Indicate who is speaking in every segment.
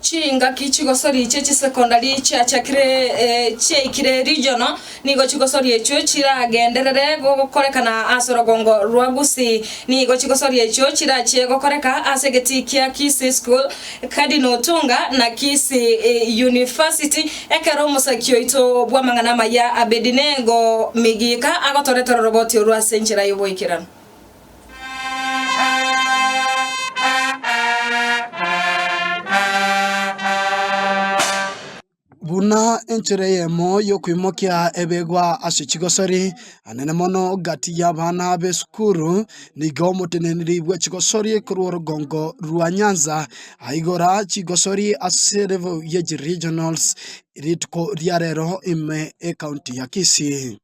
Speaker 1: Chingaki chigosoria chie chisecondary chiachakire chiaikire regional nigo chigosoria echio chiragenderere gokorekana ase orogongo rwa Gusii. Nigo chigosoria echio chirachie gokoreka ase egetii kia Kisii School, Cardinal Otunga, na Kisii University ekero omosaki oito bw'amang'ana amaya Abedinego Migika agotoretera oroboti orwo ase enchera y'oboikeranu. Buna enchera eyemo y'okoimokia ebegwa ase chigosori, anene mono gati y'abana b'esukuru, nigo omoteneneri bwe chigosori korwa orogongo rwa Nyanza aigora chigosori ase level ye chi regionals rituko ria rero ime ecounty ya Kisii.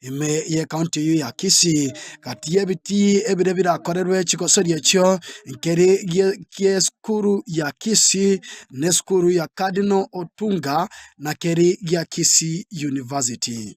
Speaker 1: ime y'ecounty eyio ya Kisii. Gati y'ebitii ebire birakorerwe chigosori echio nkeri esukuru ya Kisii na esukuru ya Cardinal Otunga na keri gia Kisii University.